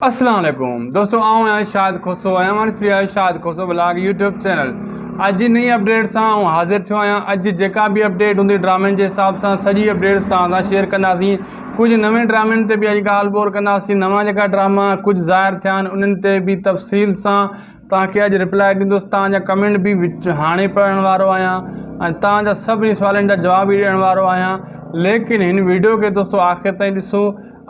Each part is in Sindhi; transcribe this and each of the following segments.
اسلام عليڪم دوستو آئون آهيان شاهد کوسو ۽ اوهان ڏسي رهيا آهيو Shahid Khoso blog YouTube channel اڄ جي نئين اپڊيٽ سان آئون حاضر ٿيو آهيان اڄ جيڪا به اپڊيٽ هوندي ڊرامن جي حساب سان سڄي اپڊيٽس توهان سان شيئر ڪنداسين ڪجهه نوين ڊرامن تي به اڄ ڳالهه ٻولهه ڪنداسين نوان جيڪا ڊراما ڪجهه ظاهر ٿيا آهن انهن تي به تفصيل سان توهان کي اڄ ريپلائي ڏيندس توهان جا ڪمينٽ به هاڻي پڙهڻ وارو آهيان ۽ توهان جا سڀني سوالن جا جواب به ڏيڻ وارو آهيان ليڪن هن ويڊيو کي دوستو آخر تائين ڏسو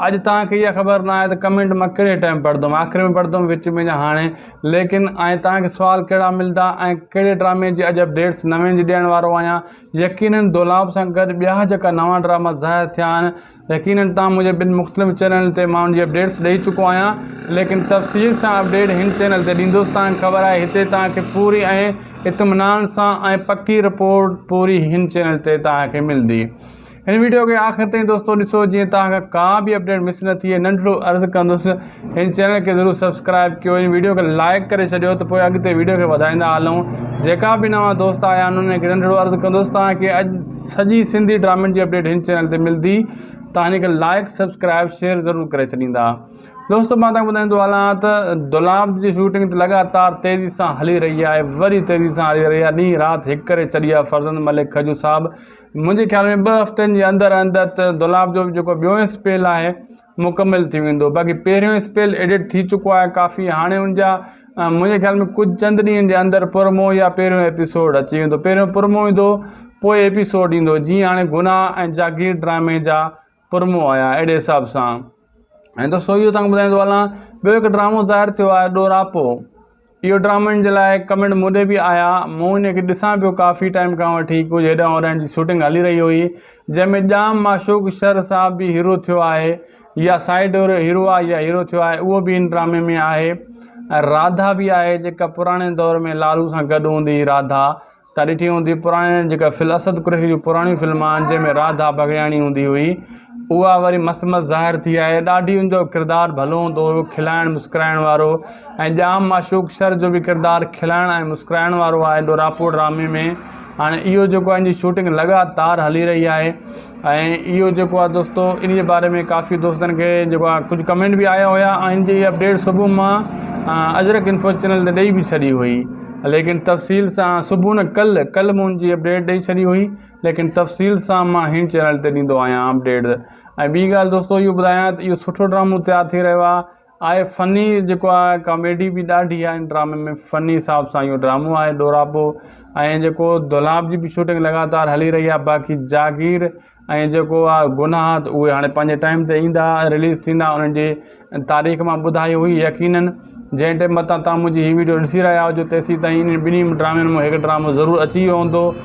اڄ توهان کي اها خبر نه آهي ته ڪمينٽ مان ڪهڙي ٽائم پڙهندم آخر ۾ پڙهندم وچ ۾ يا هاڻي ليڪن ۽ توهان کي سوال ڪهڙا ملدا ۽ ڪهڙي ڊرامي جي اڄ اپڊيٽس نوين جي ڏيڻ وارو آهيان يقينن دولاب سان گڏ ٻيا جيڪا نوان ڊراما ظاهر ٿيا آهن يقينن توهان مون جي ٻن مختلف چينلن تي ماڻهن جي اپڊيٽس ڏئي چڪو آهيان ليڪن تفصيل سان اپڊيٽ هن چينل تي ڏيندوس توهان کي خبر آهي هتي توهان کي پوري ۽ اطمينان سان ۽ پڪي رپورٽ پوري هن چينل تي توهان کي ملندي هن ويڊيو کي آخر تائين دوستو ڏسو جيئن توهان کان ڪا به اپڊيٽ مس نه ٿئي ننڍڙو عرض ڪندس هن چينل کي ضرور سبسڪرائب ڪيو هن ويڊيو کي لائيڪ ڪري ڇڏيو ته پوء اڳتي ويڊيو کي وڌائيندا هلون جيڪا به نوان دوست آيا آهن انهن کي ننڍڙو عرض ڪندوس توهان کي اڄ سڄي سنڌي ڊرامن جي اپڊيٽ هن چينل تي ملدي توهان هن کي لائيڪ سبسڪرائب شيئر ضرور ڪري ڇڏيندا دوستو مان توهان ٻڌائيندو هلان ته دولاب جي شوٽنگ ته لڳاتار تيزي سان هلي رهي آهي وري تيزي سان هلي رهي آهي ڏينهن رات هڪ ڪري ڇڏي آهي فرزند ملڪ کجو صاحب منهنجي خيال ۾ ٻه هفتن جي اندر اندر ته دولاب جو جيڪو ٻيو اسپيل آهي مڪمل ٿي ويندو باقي پهريون اسپيل ايڊٽ ٿي چڪو آهي ڪافي هاڻي ان جا منهنجي خيال ۾ ڪجهه چند ڏينهن جي اندر پرمو يا پهريون ايپيسوڊ اچي ويندو پهريون پرمو ايندو پوء ايپيسوڊ ايندو جيئن هاڻي گناهه ۽ جاگير ڊرامي جا پرمو آيا اهڙي حساب سان ۽ دوستو اهو تانکي ٻڌائيندو هلان ٻيو هڪ ڊرامو ظاهر ٿيو آهي ڏوراپو اهو ڊرامن جي لاء ڪمينٽ مون ڏي به آيا مون انهي کي ڏسان پيو ڪافي ٽائيم کان وٺي ڪجهه هيڏانهن هوڏانهن جي شوٽنگ هلي رهي هئي جنهن ۾ ڄام معشوق شر صاحب به هيرو ٿيو آهي يا سائيڊ هيرو آهي يا هيرو ٿيو آهي اهو به ان ڊرامي ۾ آهي راڌا به آهي جيڪا پراڻي دور ۾ لالو سان گڏ هوندي هئي راڌا تان ڏٺي هوندي پراڻي جيڪا فل اسد قريشي جون پراڻيون فلم آهن جنهن ۾ راڌا بگڙياڻي هوندي هئي اها وري مس مس ظاهر ٿي آهي ڏاڍي ان جو ڪردار ڀلو هوندو هيو کلائڻ مسڪرائڻ وارو ۽ ڄام معشوق شر جو به ڪردار کلائڻ ۽ مسڪرائڻ وارو آهي ڏوراپور ڊرامي ۾ هاڻي اهو جيڪو آهي ان جي شوٽنگ لڳاتار هلي رهي آهي ۽ اهو جيڪو آ دوستو انهي باري ۾ ڪافي دوستن کي جيڪو آ ڪجهه ڪمينٽ به آيا هيا ۽ ان جي اپڊيٽ صبح مان اجرڪ انفو چينل تي ڏئي به ڇڏي هئي ليڪن تفصيل سان صبح نه ڪل ڪل مون ان جي اپڊيٽ ڏئي ڇڏي هئي ليڪن تفصيل سان مان هن چينل تي ڏيندو آهيان اپڊيٽ ۽ ٻي ڳالهه دوستو اهو ٻڌايان ته اهو سٺو ڊرامو تيار ٿي رهيو آ آهي فني جيڪو آ ڪاميڊي به ڏاڍي آ ان ڊرامي ۾ فني حساب سان اهو ڊرامو آهي ڏوراپو ۽ جيڪو دولاب جي به شوٽنگ لڳاتار هلي رهي آ باقي جاگير ۽ جيڪو آ گناهه ته اهي هاڻي پنهنجي ٽائيم تي ايندا رليز ٿيندا انهن جي تاريخ مان ٻڌائي هئي يقيناً جنهن ٽائيم متان تان منهنجي هي ويڊيو ڏسي رهيا هجو تيسين تائين انهن ٻنهي ڊرامن مون هڪ ڊرامو ضرور اچي ويو هوندو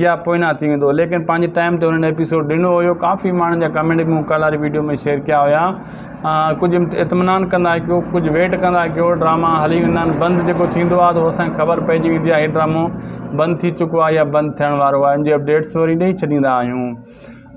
يا پوئنا ٿي ويندو ليڪن پنهنجي ٽائيم تي هنن ايپيسوڊ ڏنو هيو ڪافي ماڻهن جا ڪمينٽ به مون ڪالهه واري ويڊيو ۾ شيئر ڪيا هيا ڪجهه اطمينان ڪندا ڪيو ڪجهه ويٽ ڪندا ڪيو ڊراما هلي ويندا آهن بند جيڪو ٿيندو آهي اسان کي خبر پئجي ويندي آهي هي ڊرامو بند ٿي چڪو آهي يا بند ٿيڻ وارو آهي ان جي اپڊيٽس وري ڏئي ڇڏيندا آهيون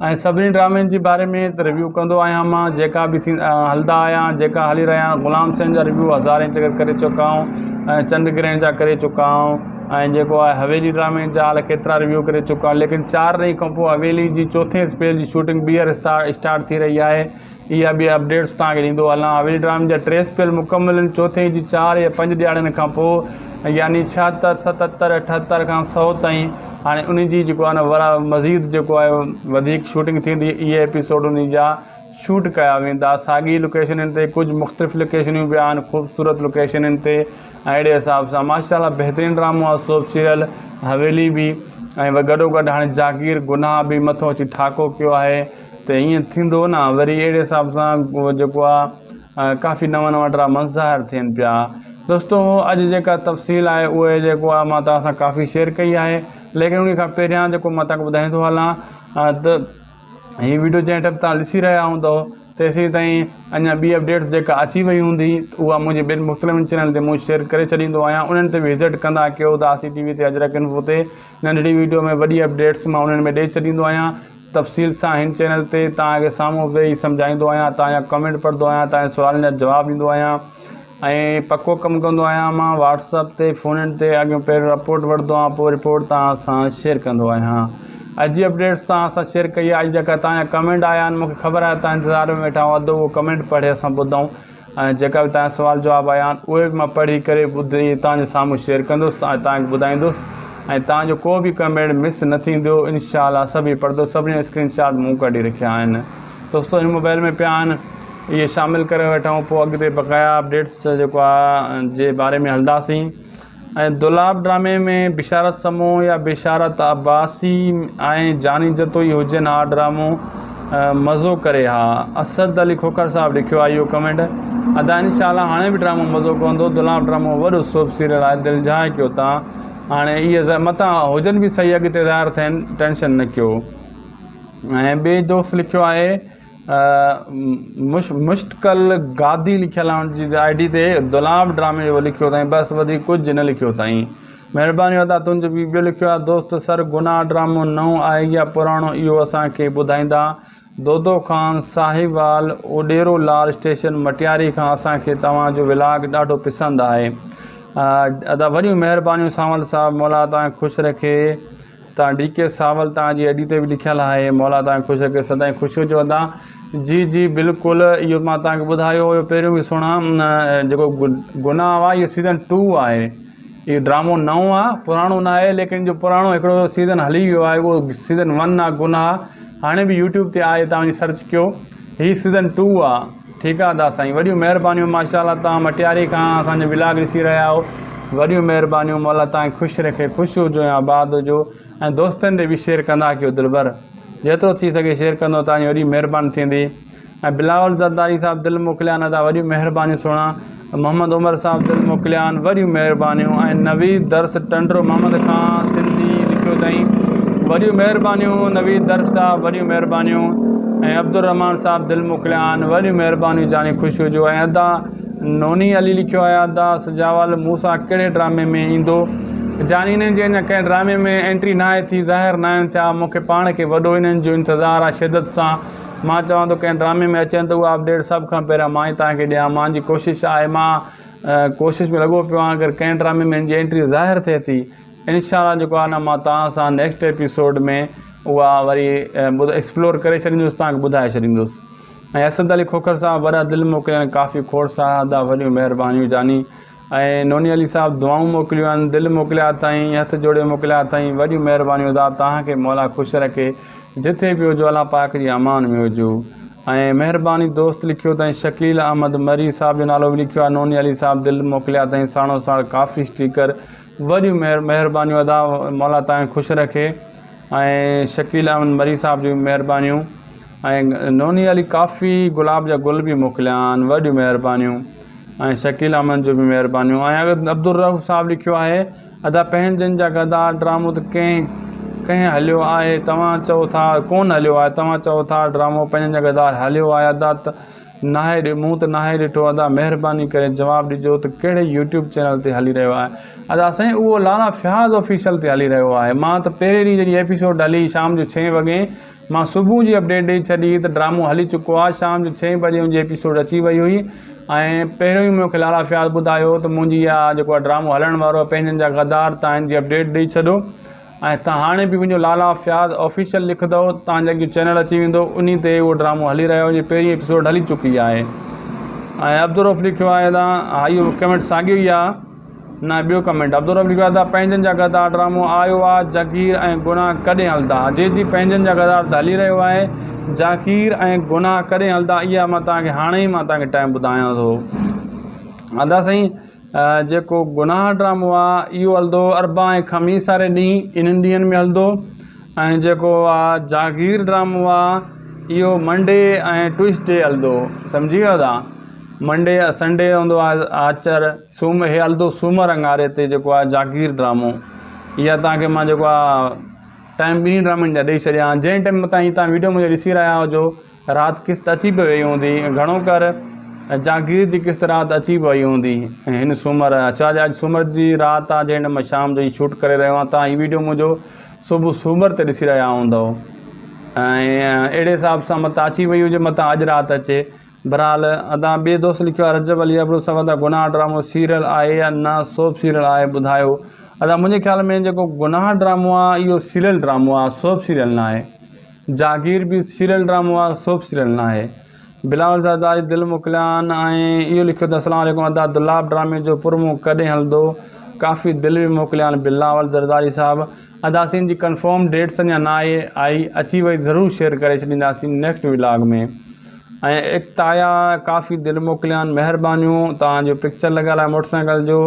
۽ سڀني ڊرامن جي باري ۾ ته ريويو ڪندو آهيان مان جيڪا به ٿي هلندا آيا آهن جيڪا هلي رهيا آهن غلام سين جا ريويو هزارين چڪر ڪري چڪا آهون ۽ چنڊ گرهڻ جا ڪري چڪا آهون ۽ جيڪو آهي حويلي ڊرامي جا الاء ڪيترا ريويو ڪري چڪا آهون ليڪن چار ري کانپوء حويلي جي چوٿين اسپيل جي شوٽنگ ٻيهر اسٽارٽ ٿي رهي آهي اها ٻيا اپڊيٽس توهان کي ڏيندو هلان. هاويل ڊرامي جا ٽي سپيل مڪمل آهن، چوٿين جي چار يا پنج ڏهاڙن کان پوء يعني ڇهاتر، ستتر، اٺهتر کان سؤ تائين هاڻي انهي جي جيڪو آهي ورا مزيد جيڪو آهي وڌيڪ شوٽنگ ٿيندي، اهي ايپيسوڊ انهي جا شوٽ ڪيا ويندا، ساڳي لوڪيشنن تي ڪجهه مختلف لوڪيشنيون به آهن، خوبصورت لوڪيشنن تي ۽ اهڙي حساب سان ماشاءالله بهترين ڊرامو آهي سوپ سيريل حويلي به ۽ گڏو گڏ هاڻي جاگير گناهه به مٿو اچي ٺاڪو ڪيو آهي. ته ائين ٿيندو نه وري اهڙي حساب سان جيڪو آ ڪافي نوان نوان ڊراماس ظاهر ٿين پيا دوستو اڄ جيڪا تفصيل آهي اهي جيڪو آ مان توهان سان ڪافي شيئر ڪئي آهي ليڪن انهي کان پهريان جيڪو مان توهان کي ٻڌائيندو هلان ته هي ويڊيو جنهن ٽيم توهان ڏسي رهيا هوندو تيسين تائين اڃا ٻي اپڊيٽس جيڪا اچي وئي هوندي اها منهنجي ٻين مختلفن چينلن تي مون شيئر ڪري ڇڏيندو آهيان انهن تي به وزٽ ڪندا ڪيو ته آسي ٽي وي تي اجرڪ انفو تي ننڍڙي ويڊيو ۾ وڏي اپڊيٽس مان انهن ۾ ڏئي ڇڏيندو آهيان تفصيل سان هن چينل تي توهان کي سامهون ويهي سمجهائيندو آهيان توهان جا ڪمينٽ پڙهندو آهيان توهان جي سوالن جا جواب ڏيندو آهيان ۽ پڪو ڪم ڪندو آهيان مان واٽس اپ تي فون ان تي اڳيون پهريون رپورٽ وٺندو آهيان پوء رپورٽ توهان سان شيئر ڪندو آهيان اڄ جي اپڊيٽس توهان سان شيئر ڪئي آهي اڄ جيڪا توهان جا ڪمينٽ آيا آهن مون کي خبر آهي توهان انتظار ۾ ويٺا هئا اڌ اهو ڪمينٽ پڙهي اسان ٻڌائون ۽ جيڪا به تنهنجا سوال جواب آيا آهن اهي به مان پڙهي ڪري ٻڌي توهان جي سامهون شيئر ڪندس ۽ توهان کي ٻڌائيندس ۽ توهان جو ڪو به ڪمينٽ مس نه ٿيندو انشاء الله سڀئي پڙهندس سڀني جا اسڪرين شاٽ مون ڪڍي رکيا آهن دوستو هن موبائل ۾ پيا آهن اهي شامل ڪري وٺون پوء اڳتي بقايا اپڊيٽس جيڪو آهي جي باري ۾ هلنداسين ۽ دولاب ڊرامي ۾ بشارت سمون يا بشارت عباسي ۽ جاني جتوئي هجن ها ڊرامو مزو ڪري ها اسد علي کوکر صاحب لکيو آهي اهو ڪمينٽ ادا انشاء الله هاڻي به ڊرامو مزو ڪندو دولاب ڊرامو وڏو سوپ سيريل آهي دل جهائي ڪيو تا هاڻي اهي زه متان هجن به صحيح اڳتي ظاهر ٿين ٽينشن نه ڪيو ۽ ٻي دوست لکيو آهي مشتقل گادي لکيل آهي ان جي آئي ڊي تي دولاب ڊرامي اهو لکيو اٿائين بس وڌيڪ ڪجهه نه لکيو اٿائين مهرباني ادا تنهنجو به ٻيو لکيو آهي دوست سر گناهه ڊرامو نئون آهي يا پراڻو اهو اسان کي ٻڌائيندا دودو خان ساهيوال اوڏيرو لال اسٽيشن مٽياري کان اسان کي توهان جو ولاگ ڏاڍو پسند آهي ادا وڏيون مهربانيون سانول صاحب مولا توهان کي خوش رکي تان ڊي ڪي ساول تان جي ايڊي تي به لکيل آهي مولا تان کي خوش رکي سدائين خوش هجو ادا جي جي بلڪل اهو مان تان کي ٻڌايو هيو پهريون به سهڻا جيڪو گناهه آهي اهو سيزن ٽو آهي اهو ڊرامو نئون آهي پراڻو نه آهي ليڪن جو پراڻو هڪڙو سيزن هلي ويو آهي اهو سيزن ون آهي گناهه هاڻي به يوٽيوب تي آهي تان وڃي سرچ ڪيو هي سيزن ٽو آهي ٺيڪ آ ادا سائين وڏيون مهربانيون ماشاءالله توهان مٽياري کان اسان جو ولاگ ڏسي رهيا آهو وڏيون مهربانيون مولا توهان خوش رکي خوش هجو ۽ آباد هجو ۽ دوستن ڏي به شيئر ڪندا ڪيو دلبر جيترو ٿي سگهي شيئر ڪندو توهان جي وڏي مهرباني ٿيندي ۽ بلاول زرداري صاحب دل موڪليا نه ادا وڏيون مهربانيون سهڻا محمد عمر صاحب دل موڪليان وڏيون مهربانيون ۽ نويد درس ٽنڊو محمد کان سنڌي لکيو تائين وڏيون مهربانيون نويد درس صاحب وڏيون مهربانيون ۽ عبدالرحمان صاحب دل موڪليان وڏيون مهربانيون جاني خوش هجو ۽ ادا نوني علي لکيو آهي ادا سجاول مون سان ڪهڙي ڊرامي ۾ ايندو جاني انهن جي اڃا ڪنهن ڊرامي ۾ انٽري ناهي ٿي ظاهر ناهن ٿيا مون کي پاڻ کي وڏو انهن جو انتظار آهي شدت سان مان چوان ٿو ڪنهن ڊرامي ۾ اچين ته اهو اپڊيٽ سڀ کان پهريان مان ئي توهان کي ڏيان مان جي ڪوشش آهي مان ڪوشش ۾ لڳو پيو آهيان اگر ڪنهن ڊرامي ۾ هن جي انٽري ظاهر ٿئي ٿي انشاء الله جيڪو آهي نه مان توهان سان نيڪسٽ ايپيسوڊ ۾ اها وري ايڪسپلور ڪري ڇڏيندس توهان کي ٻڌائي ڇڏيندس ۽ اسد علي کوکر صاحب وڏا دل موڪليا ۽ ڪافي کوڙ سارا ادا وڏيون مهربانيون جاني ۽ نوني علي صاحب دعائون موڪليون آھن دل موڪليا اٿائين ھٿ جوڙي موڪليا اٿائين وڏيون مھربانيون ادا توھان کي مولا خوش رکي جٿي به ھجو الله پاڪ جي امان ۾ ھجو ۽ مھرباني دوست لکيو تائين شڪيل احمد مري صاحب جو نالو به لکيو آھي نوني علي صاحب دل موڪليا اٿائين ساڻو ساڻ ڪافي اسٽيڪر وڏيون مھر مھربانيون ادا مولا توھان کي خوش رکي ۽ شڪيل احمد مري صاحب جون مھربانيون ۽ نوني علي ڪافي گلاب جا گل به موڪليا آھن وڏيون مھربانيون ۽ شڪيل احمد جون به مهربانيون ۽ عبدالرؤف صاحب لکيو آهي ادا پنهنجن جا غدار ڊرامو ته ڪنهن ڪنهن هليو آهي توهان چئو ٿا ڪون هليو آهي توهان چئو ٿا ڊرامو پنهنجن جا غدار هليو آهي ادا ته ناهي مون ته ناهي ڏٺو ادا مهرباني ڪري جواب ڏجو ته ڪهڙي يوٽيوب چينل تي هلي رهيو آهي ادا سائين اهو لالا فياض آفيشل تي هلي رهيو آهي مان ته پهرين ڏينهن جڏهن ايپيسوڊ هلي شام جو ڇهين وڳي مان صبح جي اپڊيٽ ڏئي ڇڏي هئي ته ڊرامو هلي چڪو آهي شام جو ڇهين بجي ان جي ايپيسوڊ اچي وئي هئي ۽ پهريون ئي مونکي لارا فياض ٻڌايو هو ته منهنجي اها جيڪو آهي ڊرامو هلڻ وارو آهي پنهنجن جا غدار تان هن جي اپڊيٽ ڏئي ڇڏو ۽ تان هاڻي به وڃو لالا فياض آفيشل لکندؤ تان جي اڳيون چينل اچي ويندو انهي تي اهو ڊرامو هلي رهيو آهي ان جي پهرين ايپيسوڊ هلي چڪي آهي ۽ عبدالروف لکيو آهي ته هائي اهو ڪمينٽ ساڳيو ئي آهي نه ٻيو ڪمينٽ عبدالرب لکيو آهي ته پنهنجن جا غدار ڊرامو آيو آ جگير ۽ گناھ ڪڏهن هلدا جي جي پنهنجن جا غدار ته هلي رهيو آهي جاڪير ۽ گناھ ڪڏهن هلدا اها مان توهان کي هاڻي ئي مان توهان کي ٽائيم ٻڌايان ٿو ادا سائين جيڪو گناھ ڊرامو آ اهو هلدو اربع ۽ خميس واري ڏينهن انهن ڏينهن ۾ هلدو ۽ جيڪو آ جاگير ڊرامو آ اهو منڊي ۽ ٽوئسڊي هلدو سمجهي ويو ادا منڊي يا سنڊي هوندو آهي آچر، سوم هي هلندو سومر اڱاري تي جيڪو آهي جاگير ڊرامو اها توهان کي مان جيڪو آهي ٽائيم ٻنهي ڊرامن جا ڏئي ڇڏيا آهن جنهن ٽائيم تائين تهان ويڊيو منهنجو ڏسي رهيا هجو رات قسط اچي به وئي هوندي گهڻو ڪر جاگير جي قسط رات اچي به وئي هوندي هن سومر ڇا جي اڄ سومر جي رات آهي جنهن ٽائيم مان شام جو هي شوٽ ڪري رهيو آهيان تهان هي ويڊيو منهنجو صبح سومر تي ڏسي رهيا هوندؤ ۽ اهڙي حساب سان مت اچي وئي هجي مت اڄ رات اچي بھرحال ادان ٻئي دوست لکيو آ رجب علي ابڙو سوال ته گناھ ڊرامو سيريل آھي يا نه سوپ سيريل آھي ٻڌايو ادا منھنجي خيال ۾ جيڪو گناھ ڊرامو آ اھو سيريل ڊرامو آ سوپ سيريل نه آھي جاگير به سيريل ڊرامو آ سوپ سيريل نه آھي بلاول زرداري دل موڪليان ۽ اھو لکيو ته اسلام عليڪم ادا دولاب ڊرامي جو پرمو ڪڏھن ھلندو ڪافي دل به موڪليان بلاول زرداري صاحب ادا سين جي ڪنفرم ڊيٽس اڃا نه آھي آئي اچي وئي ضرور شيئر ڪري ڇڏينداسين نيڪسٽ ولاگ ۾ ۽ اڪتايا ڪافي دل موڪليان مهربانيون توهان جو پڪچر لڳل آهي موٽر سائيڪل جو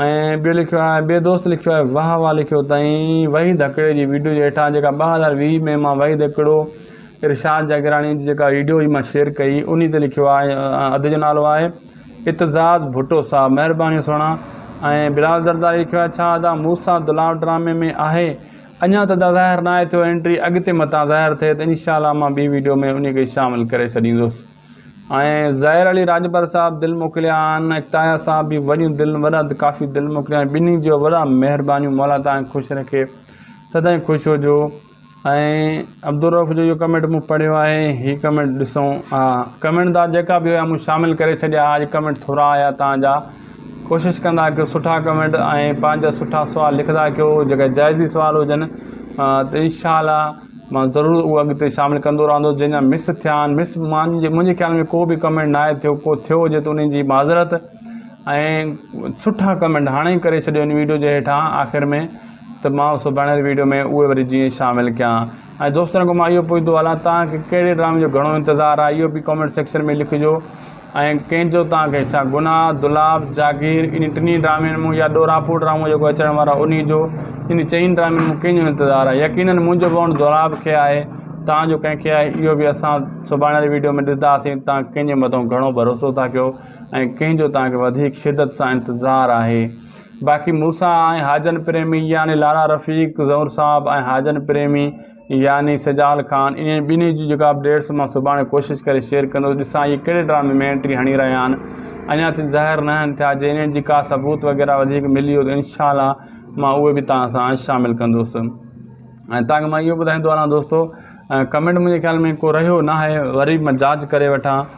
۽ ٻيو لکيو آهي ٻي دوست لکيو آهي واه واه لکيو تائين وحيد هڪڙي جي ويڊيو جي هيٺان جيڪا ٻه هزار ويهه ۾ مان وحيد هڪڙو ارشاد جاگيراڻي جي جيڪا ويڊيو هئي مان شيئر ڪئي انهي تي لکيو آهي ادي جو نالو آهي اتزاد ڀٽو صاحب مهربانيون سهڻا ۽ بلال زرداري لکيو آهي ڇا ادا مون سان دلاور ڊرامي ۾ آهي اڃان ته دا ظاهر ناهي ٿيو انٽري اڳتي متان ظاهر ٿئي ته انشاء الله مان ٻي ويڊيو ۾ انهي کي شامل ڪري ڇڏيندس ۽ ظاهر علي راڄپر صاحب دل موڪليا آهن ۽ تايا صاحب به وڏيون دل وڏا ڪافي دل موڪليا آهن ٻنهي جو وڏا مهربانيون مولا تهان کي خوش رکي سدائين خوش هجو ۽ عبدالروف جو اهو ڪمينٽ مون پڙهيو آهي هي ڪمينٽ ڏسون ها ڪمينٽ دا جيڪا به هيا مون شامل ڪري ڇڏيا ها اڄ ڪمينٽ ٿورا آيا تهان جا ڪوشش ڪندا ڪيو سٺا ڪمينٽ ۽ پنهنجا سٺا سوال لکندا ڪيو جيڪا جائزي سوال هجن ته انشاء الله مان ضرور هو اڳتي شامل ڪندو رهندو جنهن جا مس ٿيا آهن مس مانجي منهنجي خيال ۾ ڪو به ڪمينٽ ناهي ٿيو ڪو ٿيو هجي ته انهي جي معذرت ۽ سٺا ڪمينٽ هاڻي ئي ڪري ڇڏيو هن ويڊيو جي هيٺان آخر ۾ ته مان سڀاڻي ويڊيو ۾ اهي وري جيئن شامل ڪيان ۽ دوستن کان مان اهو پڇندو هلان توهان کي ڪهڙي ڊرامي جو گهڻو انتظار آهي اهو به ڪمينٽ سيڪشن ۾ لکجو ۽ ڪنهن جو توهان کي ڇا گناهه، دولاب، جاگير، انهي ٽنهي ڊرامين مون يا ڏوراپور ڊرامو جيڪو اچڻ وارو آهي انهي جو، انهي چئن ڊرامين مون ڪنهن جو انتظار آهي يقينن منهنجو ڀؤڻ دولاب کي آهي توهان جو ڪنهن کي آهي اهو به اسان سڀاڻيل ويڊيو ۾ ڏسداسين توهان ڪنهن جي مٿو گهڻو ڀروسو ٿا ڪيو ۽ ڪنهن جو توهان کي وڌيڪ شدت سان انتظار آهي باقي مون سان آهي هاجن پريمي يعني لالا رفيق زئور صاحب ۽ هاجن پريمي يعني سجال خان انهن ٻنهي جي جيڪا اپڊيٽس مان سڀاڻي ڪوشش ڪري شيئر ڪندس ڏسان اهي ڪهڙي ڊرامي ۾ انٽري هڻي رهيا آهن اڃا تائين ظاهر ناهن ٿيا جي انهن جي ڪا ثبوت وغيره وڌيڪ ملي ويو ته انشاء الله مان اهي به توهان سان شامل ڪندس ۽ توهان کي مان اهو ٻڌائيندو هلان دوستو ڪمينٽ منهنجي خيال ۾ ڪو رهيو ناهي وري مان جاچ ڪري وٺان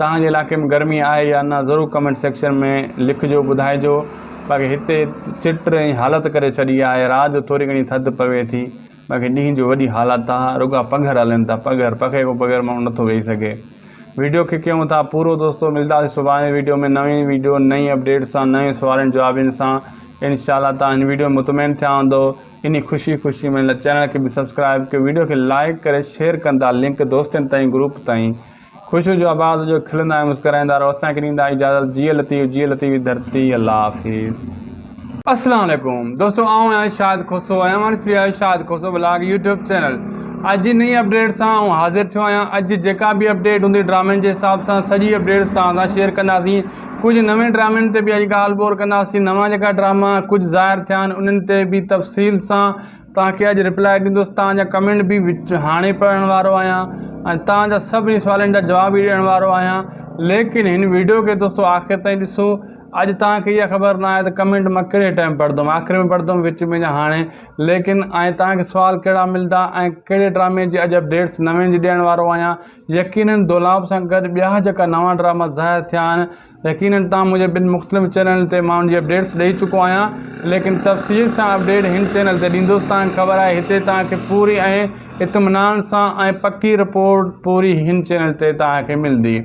توهان جي علائقي ۾ گرمي آهي يا نه ضرور ڪمينٽ سيڪشن ۾ لکجو ٻڌائجو باقي هتي چٽ ۽ حالت ڪري ڇڏي آهي رات جو ٿوري گهڻي ٿڌ پوي ٿي باقي ڏينهن جو وڏي حالت آهي رڳا پگهر هلن ٿا پگهر پکي کان بغير ماڻهو نٿو ويهي سگهي ويڊيو کي ڪيون ٿا پورو دوستو ملداسي سڀاڻي ويڊيو ۾ نوين ويڊيو نئين اپڊيٽ سان نوين سوالين جوابين سان انشاء الله توهان هن ويڊيو مطمئن ٿيا هوندو انهي خوشي خوشي ۾ چينل کي به سبسڪرائب ڪيو ويڊيو کي لائڪ ڪري شيئر ڪندا لنڪ دوستن تائين گروپ تائين خوشيء جو آواز هجو کلندا ۽ مسڪرائيندا رهو اسان کي ڏيندا اجازت جيئي لطيف جيئي لطيف ڌرتي الله حافظ. السلام عليڪم دوستو آئون آهيان شاهد کوسو ۽ اوهان ڏسي رهيا آهيو Shahid Khoso blog YouTube channel اڄ جي نئين اپڊيٽ سان آئون حاضر ٿيو آهيان اڄ جيڪا به اپڊيٽ هوندي ڊرامن جي حساب سان سڄي اپڊيٽس توهان سان شيئر ڪنداسين ڪجهه نوين ڊرامن تي به اڄ ڳالهه ٻولهه ڪنداسين نوان جيڪا ڊراما ڪجهه ظاهر ٿيا آهن انهن تي به تفصيل سان توهان کي اڄ ريپلائي ڏيندس توهان جا ڪمينٽ به هاڻي پڙهڻ وارو آهيان ۽ توهان جا سڀني سوالن جا جواب به ڏيڻ وارو آهيان ليڪن هن ويڊيو کي دوستو آخر تائين ڏسو اڄ توهان کي اها خبر نه آهي ته ڪمينٽ مان ڪهڙي ٽائم پڙهندم آخر ۾ پڙهندم وچ ۾ يا هاڻي ليڪن آئين توهان کي سوال ڪهڙا ملدا ۽ ڪهڙي ڊرامي جي اڄ اپڊيٽس نوين جي ڏيڻ وارو آهيان يقينن دولاب سان گڏ ٻيا جيڪا نوان ڊراما ظاهر ٿيا آهن يقينن توهان مونکي ٻن مختلف چينلن تي ماڻهن جي اپڊيٽس ڏئي چڪو آهيان ليڪن تفصيل سان اپڊيٽ هن چينل تي ڏيندس توهان کي خبر آهي هتي توهان کي پوري ۽ اطمينان سان ۽ پڪي رپورٽ پوري هن چينل تي توهان کي ملندي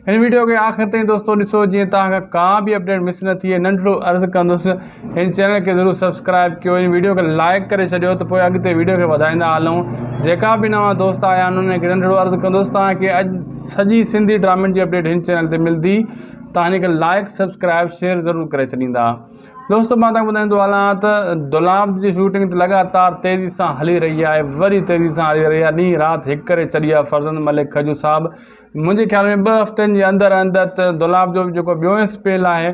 هن ويڊيو کي آخر تائين دوستو ڏسو جيئن توهان کان ڪا به اپڊيٽ مس نه ٿئي ننڍڙو عرض ڪندس هن چينل کي ضرور سبسڪرائب ڪيو هن ويڊيو کي لائيڪ ڪري ڇڏيو ته پوء اڳتي ويڊيو کي وڌائيندا هلون جيڪا به نوان دوست آيا آهن انهن کي ننڍڙو عرض ڪندوس تان کي اڄ سڄي سنڌي ڊرامن جي اپڊيٽ هن چينل تي ملدي تان هن کي لائيڪ سبسڪرائب شيئر ضرور ڪري ڇڏيندا دوست مان تان ٻڌائيندو هلان ته دولاب جي شوٽنگ ته لڳاتار تيزي سان هلي رهي آهي وري تيزي سان هلي رهي آهي ڏينهن رات هڪ ڪري ڇڏي آهي فرزند ملڪ کجو صاحب منهنجي خيال ۾ ٻه هفتن جي اندر اندر ته دولاب جو جيڪو ٻيو اسپيل آهي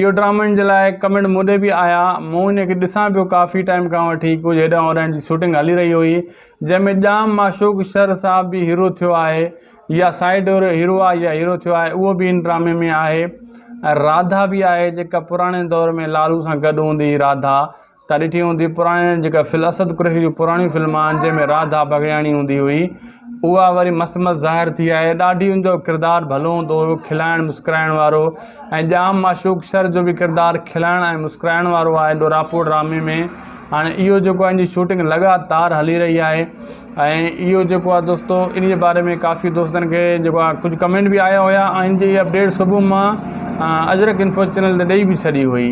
اهو ڊرامن جي لاء ڪمينٽ مون ڏي به آيا مون ان کي ڏسان پيو ڪافي ٽائيم کان وٺي ڪجهه هيڏانهن هوڏانهن جي شوٽنگ هلي رهي هئي جنهن ۾ ڄام معشوق شر صاحب به هيرو ٿيو آهي يا سائيڊ هيرو آهي يا هيرو ٿيو آهي اهو به ان ڊرامي ۾ آهي ۽ راڌا به آهي جيڪا پراڻي دور ۾ لالو سان گڏ هوندي هئي راڌا تان ڏٺي هوندي پراڻي جيڪا فل اسد قريشي جون پراڻيون فلم آهن جنهن ۾ راڌا بگڙياڻي هوندي هئي اها وري مس مس ظاهر ٿي آهي ڏاڍي ان جو ڪردار ڀلو هوندو هو کلائڻ مسڪرائڻ وارو ۽ ڄام معشوق شر جو به ڪردار کلائڻ ۽ مسڪرائڻ وارو آهي ڏوراپو ڊرامي ۾ هاڻي اهو جيڪو آهي ان جي شوٽنگ لڳاتار هلي رهي آهي ۽ اهو جيڪو آهي دوستو انهي باري ۾ ڪافي دوستن کي جيڪو آهي ڪجهه ڪمينٽ به آيا هيا ۽ ان جي اپڊيٽ صبح مان اجرڪ انفو چينل تي ڏئي به ڇڏي هئي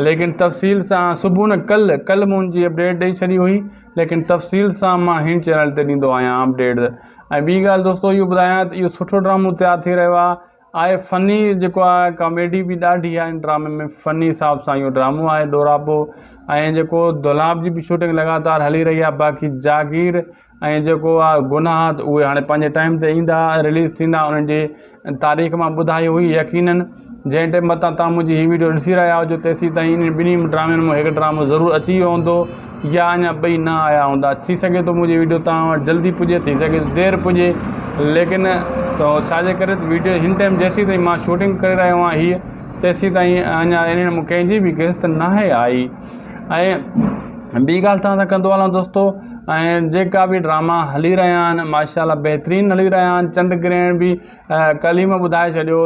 ليڪن تفصيل سان صبح نه ڪل ڪل مون ان جي اپڊيٽ ڏئي ڇڏي هئي ليڪن تفصيل سان مان هن چينل تي ڏيندو آهيان اپڊيٽ ۽ ٻي ڳالهه دوستو اهو ٻڌايان ته اهو سٺو ڊرامو تيار ٿي رهيو آهي آهي فني جيڪو آهي ڪاميڊي به ڏاڍي آهي ان ڊرامي ۾ فني حساب سان اهو ڊرامو آهي ڏوراپو ۽ جيڪو دولاب جي به شوٽنگ لڳاتار هلي رهي آهي باقي جاگير ۽ جيڪو آهي گناهه ته اهي هاڻي پنهنجي ٽائيم تي ايندا رليز ٿيندا انهن جي تاريخ مان ٻڌائي هئي يقيناً جنهن ٽائيم متان تان منهنجي هي ويڊيو ڏسي رهيا هجو تيسين تائين انهن ٻنهي ڊرامن مون هڪ ڊرامو ضرور اچي ويو هوندو يا اڃا ٻئي نه آيا هوندا ٿي سگهي ٿو منهنجي ويڊيو توهان وٽ جلدي پڄي ٿي سگهي ٿو دير پڄي ليڪن ڇا جي ڪري ته ويڊيو هن ٽائيم جيسين تائين مان شوٽنگ ڪري رهيو آهيان هيء تيسين تائين اڃا انهن مون ڪنهن جي به قسط ناهي آئي ۽ ٻي ڳالهه توهان سان ڪندو هلان دوستو ۽ جيڪا به ڊراما هلي رهيا آهن ماشاء الله بهترين هلي رهيا آهن چنڊ گرهڻ به ڪلهه ئي مون ٻڌائي ڇڏيو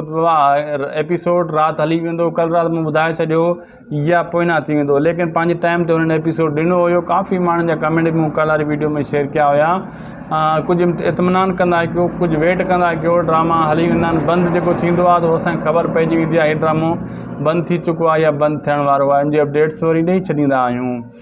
ايپيسوڊ رات هلي ويندو ڪلهه رات مون ٻڌائي ڇڏيو يا پوئنا ٿي ويندو ليڪن پنهنجي ٽائيم تي هنن ايپيسوڊ ڏنو هيو ڪافي ماڻهن جا ڪمينٽ به مون ڪالاري ويڊيو ۾ شيئر ڪيا هيا ڪجهه اطمينان ڪندا ڪيو ڪجهه ويٽ ڪندا ڪيو ڊراما هلي ويندا آهن بند جيڪو ٿيندو آهي ته اسان کي خبر پئجي ويندي آهي هي ڊرامو بند ٿي چڪو آهي يا بند ٿيڻ وارو آهي ان جي اپڊيٽس وري ڏئي ڇڏيندا آهيون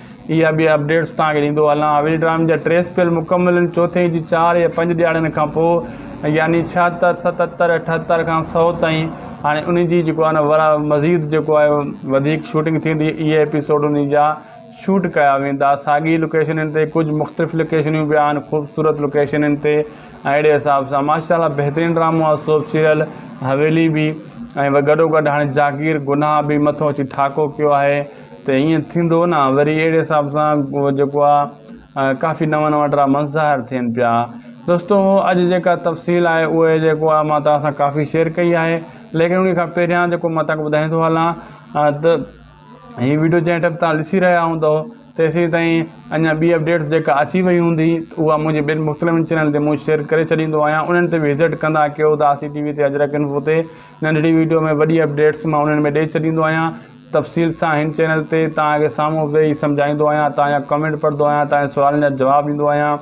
اها به اپڊيٽس توهان کي ڏيندو هلان حويلي ڊرامي جا ٽي اسپيل مڪمل آهن چوٿين جي چار يا پنج ڏياڙين کان پوء يعني ڇهاتر ستتر اٺاتر کان سؤ تائين هاڻي انهي جي جيڪو آهي نه ورا مزيد جيڪو آهي وڌيڪ شوٽنگ ٿيندي اهي ايپيسوڊ انهي جا شوٽ ڪيا ويندا ساڳي لوڪيشنن تي ڪجهه مختلف لوڪيشنيون به آهن خوبصورت لوڪيشنن تي ۽ اهڙي حساب سان ماشاء الله بهترين ڊرامو آهي سوپ سيريل حويلي به ۽ گڏو گڏ هاڻي جاگير گناهه به مٿو اچي ٺاڪو ڪيو آهي ته ائين ٿيندو نه وري اهڙي حساب سان جيڪو آ ڪافي نوان نوان ڊراماس ظاهر ٿين پيا دوستو اڄ جيڪا تفصيل آهي اهي جيڪو آ مان توهان سان ڪافي شيئر ڪئي آهي ليڪن انهي کان پهريان جيڪو مان توهان ٻڌائيندو هلان ته هي ويڊيو جنهن ٽيم توهان ڏسي رهيا هوندو تيسين تائين اڃا ٻي اپڊيٽس جيڪا اچي وئي هوندي اها منهنجي ٻين مختلفن چينلن تي مون شيئر ڪري ڇڏيندو آهيان انهن تي به وزٽ ڪندا ڪيو ته آسي ٽي وي تي اجرڪ انفو تي ننڍڙي ويڊيو ۾ وڏي اپڊيٽس مان انهن ۾ ڏئي ڇڏيندو آهيان تفصيل سان هن چينل تي توهان کي سامهون ويهي سمجهائيندو آهيان توهان جا ڪمينٽ پڙهندو آهيان توهان جي سوالن جا جواب ڏيندو آهيان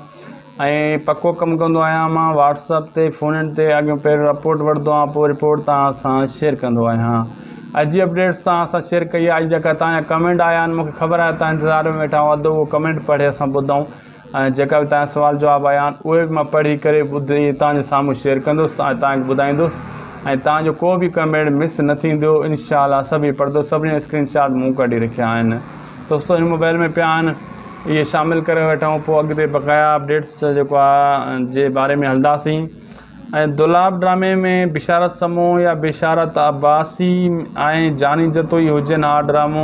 ۽ پڪو ڪم ڪندو آهيان مان واٽس اپ تي فون ان تي اڳيون پهريون رپورٽ وٺندو آهيان پوء رپورٽ توهان سان شيئر ڪندو آهيان اڄ جي اپڊيٽس توهان سان شيئر ڪئي آهي اڄ جيڪا توهان جا ڪمينٽ آيا آهن مون کي خبر آهي توهان انتظار ۾ ويٺا هئا اڌ اهو ڪمينٽ پڙهي اسان ٻڌائون ۽ جيڪا به تنهنجا سوال جواب آيا آهن اهي به مان پڙهي ڪري ٻڌي توهانجي سامهون شيئر ڪندس ۽ توهان کي ٻڌائيندس ۽ توهانجو ڪو به ڪمينٽ مس نه ٿيندو انشاء الله سڀئي پڙهندس سڀني جا اسڪرين شاٽ مون ڪڍي رکيا آهن دوستو هن موبائل ۾ پيا آهن اهي شامل ڪري وٺون پوء اڳتي بقايا اپڊيٽس جيڪو آهي جي باري ۾ هلنداسين ۽ دولاب ڊرامي ۾ بشارت سمون يا بشارت عباسي ۽ جاني جتوئي هجن اها ڊرامو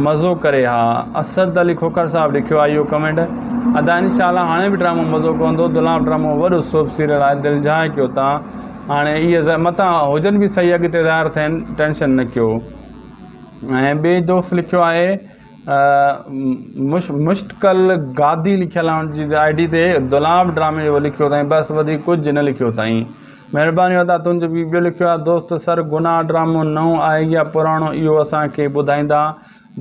مزو ڪري ها اسد علي کوکر صاحب لکيو آهي اهو ڪمينٽ ادا ان شاء الله هاڻي به ڊرامو مزو ڪندو دولاب ڊرامو وڏو سوپ سيريل آهي دل جهائي ڪيو تا هاڻي اهي زه متان هجن به صحيح اڳتي ظاهر ٿين ٽينشن نه ڪيو ۽ ٻي دوست لکيو آهي مشتقل گادي لکيل آهي ان جي آئي ڊي تي دولاب ڊرامي اهو لکيو اٿائين بس وڌيڪ ڪجهه نه لکيو اٿائين مهرباني ادا تنهنجو بي ٻيو لکيو آهي دوست سر گناهه ڊرامو نئون آهي يا پراڻو اهو اسان کي ٻڌائيندا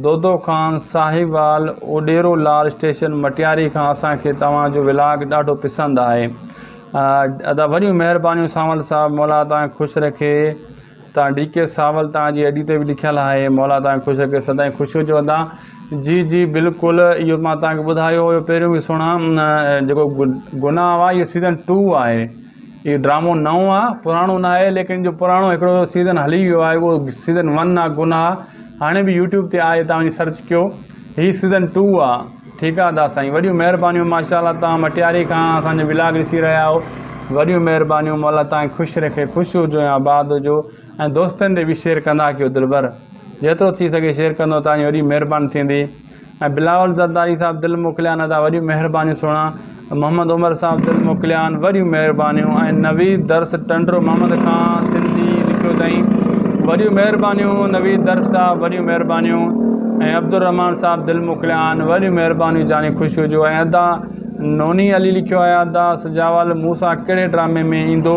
دودو خان ساهيوال اوڏيرو لار اسٽيشن مٽياري کان اسان کي توهان جو ولاگ ڏاڍو پسند آهي ادا وڏيون مهربانيون سانول صاحب مولا توهان کي خوش رکي تان ڊي ڪي ساول تان جي ايڊي تي به لکيل آهي مولا تان کي خوش رکي سدائين خوش هجو ادا. جي جي بلڪل اهو مان توهان کي ٻڌايو هيو پهريون به سهڻا جيڪو گناهه آهي اهو سيزن ٽو آهي اهو ڊرامو نئون آهي پراڻو نه آهي ليڪن جو پراڻو هڪڙو سيزن هلي ويو آهي اهو سيزن ون آهي گناهه هاڻي به يوٽيوب تي آهي توهان وڃي سرچ ڪيو هي سيزن ٽو آهي ٺيڪ آ ادا سائين وڏيون مهربانيون ماشاءالله توهان مٽياري کان اسان جو ولاگ ڏسي رهيا آهو وڏيون مهربانيون مولا توهان کي خوش رکي خوش هجو ۽ آباد هجو ۽ دوستن ڏي به شيئر ڪندا ڪيو دلبر جيترو ٿي سگهي شيئر ڪندو توهان جي وڏي مهرباني ٿيندي ۽ بلاول زرداري صاحب دل موڪليان ادا وڏيون مهربانيون سهڻا محمد عمر صاحب دل موڪليان وڏيون مهربانيون ۽ نويد درس ٽنڊو محمد کان سنڌي لکيو تائين وڏيون مهربانيون نويد درس صاحب وڏيون مهربانيون ۽ عبدالرحمان صاحب دل موڪليان وڏيون مهربانيون جاني خوش هجو ۽ ادا نوني علي لکيو آهي ادا سجاول مون سان ڪهڙي ڊرامي ۾ ايندو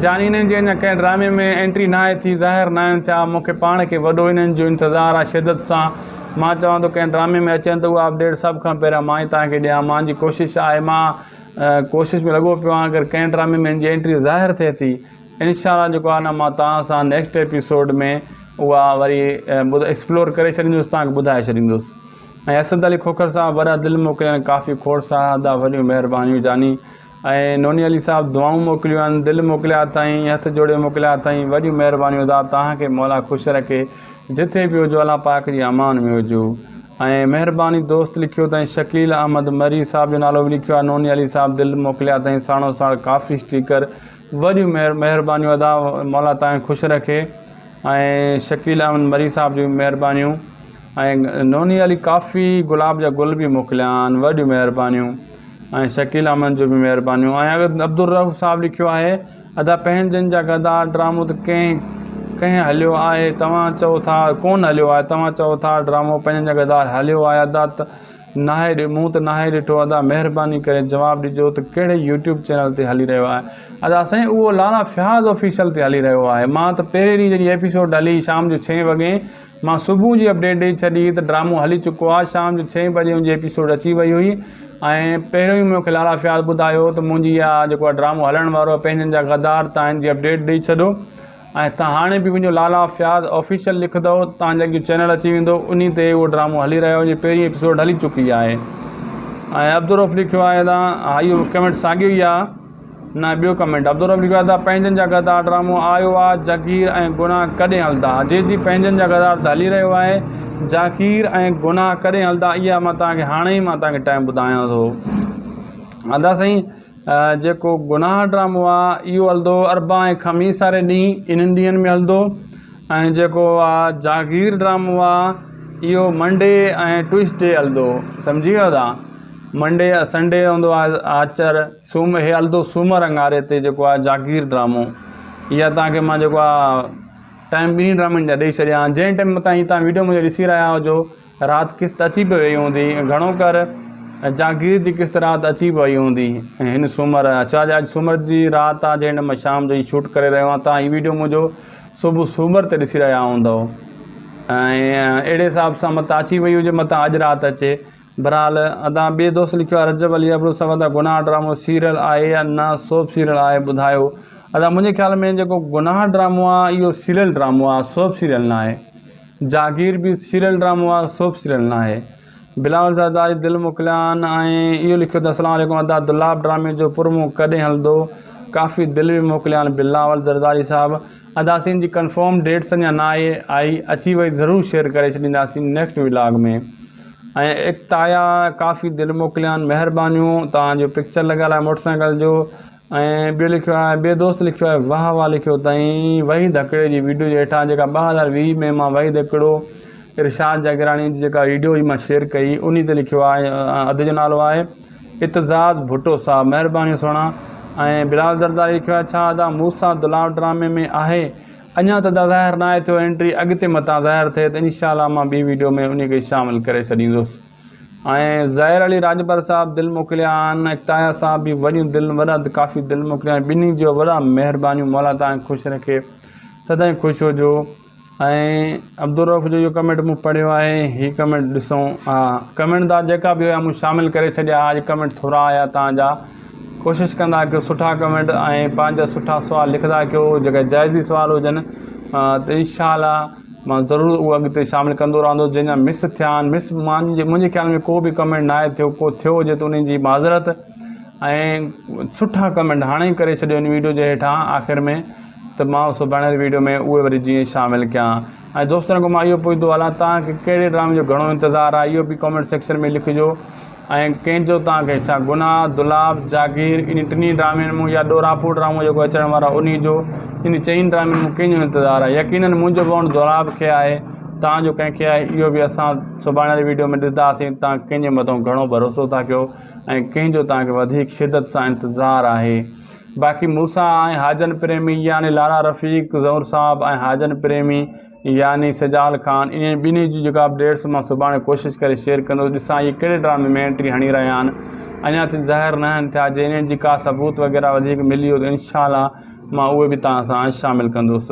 جاني انهن جي اڃا ڪنهن ڊرامي ۾ انٽري ناهي ٿي ظاهر ناهن ٿيا مون کي پاڻ کي وڏو انهن جو انتظار آهي شدت سان مان چوان ٿو ڪنهن ڊرامي ۾ اچين ته اهو اپ ڊيٽ سڀ کان پهريان مان ئي توهان کي ڏيان مان جي ڪوشش آهي مان ڪوشش ۾ لڳو پيو آهيان اگر ڪنهن ڊرامي ۾ ان جي انٽري ظاهر ٿئي ٿي انشاء الله جيڪو آهي نه مان توهان سان نيڪسٽ ايپيسوڊ ۾ اها وري ايڪسپلور ڪري ڇڏيندس توهان کي ٻڌائي ڇڏيندس ۽ اسد علي کوکر صاحب وڏا دل موڪليا ۽ ڪافي کوڙ سارا ادا وڏيون مهربانيون جاني ۽ نوني علي صاحب دعائون موڪليون آھن دل موڪليا اٿائين ھٿ جوڙي موڪليا اٿائين وڏيون مھربانيون ادا توھان کي مولا خوش رکي جٿي به ھجو الله پاڪ جي امان ۾ ھجو ۽ مھرباني دوست لکيو تائين شڪيل احمد مري صاحب جو نالو به لکيو آھي نوني علي صاحب دل موڪليا اٿائين ساڻو ساڻ ڪافي اسٽيڪر وڏيون مھر مھربانيون ادا مولا توھان کي خوش رکي ۽ شڪيل احمد مري صاحب جون مھربانيون ۽ نوني علي ڪافي گلاب جا گل به موڪليا آھن وڏيون مھربانيون ۽ شڪيل احمد جون به مھربانيون ۽ اگر عبدالرؤف صاحب لکيو آھي ادا پنھنجن جا غدار ڊرامو ته ڪنھن ڪنھن ھليو آھي توھان چئو ٿا ڪون ھليو آھي توھان چئو ٿا ڊرامو پنھنجن جا غدار ھليو آھي ادا ته ناھي مون ته ناھي ڏٺو ادا مھرباني ڪري جواب ڏجو ته ڪھڙي يوٽيوب چينل تي ھلي رھيو آھي ادا سائين اھو لالا فياض آفيشل تي ھلي رھيو آھي مان ته پھرين ڏينھن جڏھن ايپيسوڊ ھلي شام جو ڇھين وڳي مان صبح جي اپڊيٽ ڏئي ڇڏي ته ڊرامو هلي چڪو آهي، شام جو ڇهين بجي ان جي ايپيسوڊ اچي وئي هئي ۽ پهريون ئي مون کي لالا فياض ٻڌايو ته منهنجي اها جيڪو اهو ڊرامو هلڻ وارو آهي پنهنجن جا غدار تان هن جي اپڊيٽ ڏئي ڇڏو ۽ تان هاڻي به وڃو لالا فياض آفيشل لکندؤ تان جي اڳيون چينل اچي ويندو انهي تي اهو ڊرامو هلي رهيو آهي ان جي پهرين ايپيسوڊ هلي چڪي آهي ۽ عبدالروف لکيو آهي تان ها اهو ڪمينٽ ساڳيو ئي آهي. نه ٻيو ڪمينٽ عبدالرب لکيو آهي ته پنهنجن جا غدار ڊرامو آيو آ جاگير ۽ گناھ ڪڏهن هلدا جي جي پنهنجن جا غدار ته هلي رهيو آهي جاگير ۽ گناھ ڪڏهن هلدا اها مان توهان کي هاڻي ئي مان توهان کي ٽائيم ٻڌايان ٿو ادا سائين جيڪو گناھ ڊرامو آ اهو هلدو اربع ۽ خميس واري ڏينهن انهن ڏينهن ۾ هلدو ۽ جيڪو آ جاگير ڊرامو آ اهو منڊي ۽ ٽوئسڊي هلدو سمجهي ويو ادا منڊي سنڊي هوندو آ آچر سوم هي الدو سومر اڱاري تي جيڪو آهي جاگير ڊرامو اها توهان کي مان جيڪو آ ٽائم ٻنهي ڊرامن جا ڏئي ڇڏيا آهن جنهن ٽائم تائين توهان ويڊيو منهنجو ڏسي رهيا هجو رات قسط اچي پئي وئي هوندي گهڻو ڪر جاگير جي قسط رات اچي پئي هوندي هن سومر ڇا جا اڄ سومر جي رات آ جنهن ٽائم مان شام جو هي شوٽ ڪري رهيو آهيان توهان هي ويڊيو منهنجو صبح سومر تي ڏسي رهيا هوندؤ ۽ اهڙي حساب سان متان اچي وئي هجي متان اڄ رات اچي بھرحال ادان ٻئي دوست لکيو آ رجب علي ابڙو سوال ته گناھ ڊرامو سيريل آھي يا نه سوپ سيريل آھي ٻڌايو ادا منھنجي خيال ۾ جيڪو گناھ ڊرامو آ اھو سيريل ڊرامو آ سوپ سيريل ناھي جاگير به سيريل ڊرامو آ سوپ سيريل ناھي بلاول زرداري دل موڪليان ۽ اھو لکيو ته اسلام عليڪم ادا دولاب ڊرامي جو پرومو ڪڏھن ھلندو ڪافي دل به موڪليان بلاول زرداري صاحب اداسين جي ڪنفرم ڊيٽس اڃا نه آئي آئي اچي وئي ضرور شيئر ڪري ڇڏينداسين نيڪسٽ ولاگ ۾ ۽ اڪتايا ڪافي دل موڪليان مهربانيون توهان جو پڪچر لڳل آهي موٽر سائيڪل جو ۽ ٻيو لکيو آهي ٻيو دوست لکيو آهي واهه واهه لکيو تائين وحيد هڪڙي جي ويڊيو جي هيٺان جيڪا ٻه هزار ويهه ۾ مان وحيد هڪڙو ارشاد جاگيراڻي جي جيڪا ويڊيو هئي مان شيئر ڪئي انهي تي لکيو آهي ادي جو نالو آهي اتزاد ڀٽو صاحب مهرباني سهڻا ۽ بلال زرداري لکيو آهي ڇا ادا موسيٰ دلاور ڊرامي ۾ آهي اڃان ته ادا ظاهر ناهي ٿيو انٽري اڳتي متان ظاهر ٿئي ته انشاء الله مان ٻي ويڊيو ۾ انهي کي شامل ڪري ڇڏيندس ۽ ظاهر علي راڄپر صاحب دل موڪليا آهن اڪتايا صاحب به وڏيون دل وڏا ڪافي دل موڪليا آهن ٻنهي جو وڏا مهربانيون مولا توهان کي خوش رکي سدائين خوش هجو. ۽ عبدالرؤف جو اهو ڪمينٽ مون پڙهيو آهي هي ڪمينٽ ڏسون ها ڪمينٽ دا جيڪا به هيا مون شامل ڪري ڇڏيا آج ڪمينٽ ٿورا آيا تان جا ڪوشش ڪندا ڪيو سٺا ڪمينٽ ۽ پنهنجا سٺا سوال لکدا ڪيو جيڪا جائزي سوال هجن ته انشاء الله مان ضرور اهو اڳتي شامل ڪندو رهندو جن جا مس ٿيا آهن مس مانجي منهنجي خيال ۾ ڪو به ڪمينٽ نه آهي ٿيو ڪو ٿيو هجي ته انهن جي معذرت ۽ سٺا ڪمينٽ هاڻي ڪري ڇڏيو هن ويڊيو جي هيٺان آخر ۾ ته مان سڀاڻيل ويڊيو ۾ اهي وري جيئن شامل ڪيان ۽ دوستن کان مان اهو پڇندو هلان توهان کي ڪهڙي ڊرامي جو گهڻو انتظار آهي اهو به ڪامينٽ سيڪشن ۾ لکجو ۽ ڪهنجو توهان کي ڇا گناهه دولاب جاگير انهي ٽنهي ڊرامين مون يا ڏوراپور ڊرامو جيڪو اچڻ وارو آهي انهي جو انهي چئين ڊرامين مون ڪنهن جو انتظار آهي يقينن منهنجو بونڊ دولاب کي آهي توهان جو ڪنهن کي آهي اهو به اسان سڀاڻيل ويڊيو ۾ ڏسداسين توهان ڪنهنجي مٿو گهڻو ڀروسو ٿا ڪيو ۽ ڪنهنجو توهان کي وڌيڪ شدت سان انتظار آهي باقي مون سان ۽ حاجن پريمي يعني لاڙا رفيق، زهور صاحب ۽ حاجن پريمي يعني سجال خان انهن ٻنهي جي جيڪا اپڊيٽس مان سڀاڻي ڪوشش ڪري شيئر ڪندس ڏسان اهي ڪهڙي ڊرامي ۾ انٽري هڻي رهيا آهن اڃا تائين ظاهر ناهن ٿيا جي انهن جي ڪا ثبوت وغيره وڌيڪ ملي ويو ته انشاء الله مان اهي به توهان سان شامل ڪندس.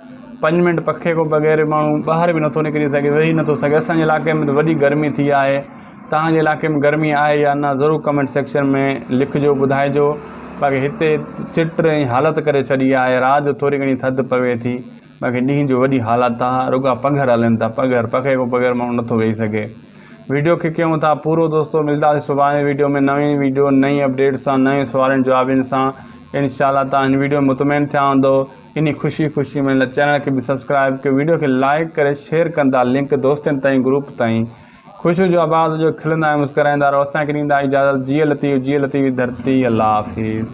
پنج منٽ پکي کان بغير ماڻهو ٻاهر به نٿو نڪري سگهي ويهي نٿو سگهي اسان جي علائقي ۾ ته وڏي گرمي ٿي آهي توهان جي علائقي ۾ گرمي آهي يا نه ضرور ڪمينٽ سيڪشن ۾ لکجو ٻڌائجو باقي هتي چٽ ۽ حالت ڪري ڇڏي آهي رات جو ٿوري گهڻي ٿڌ پوي ٿي باقي ڏينهن جو وڏي حالت آهي رڳا پگهر هلن ٿا پگهر پکي کان بغير ماڻهو نٿو ويهي سگهي ويڊيو کي ڪيون ٿا پورو دوستو ملداسين سڀاڻي ويڊيو ۾ نوين ويڊيو نئين اپڊيٽ سان نوين سوالين جوابين سان انشاء الله توهان هن ويڊيو ۾ مطمئن ٿيا هوندو انهي خوشي خوشي ۾ هن چينل کي به سبسڪرائب ڪيو ويڊيو کي لائيڪ ڪري شيئر ڪندا لنڪ دوستين تائين گروپ تائين خوشيون جو آباد هجو کلندا ۽ مسڪرائيندا رهو اسان کي ڏيندا اجازت جيئي لطيف جيئي لطيف جي ڌرتي الله حافظ.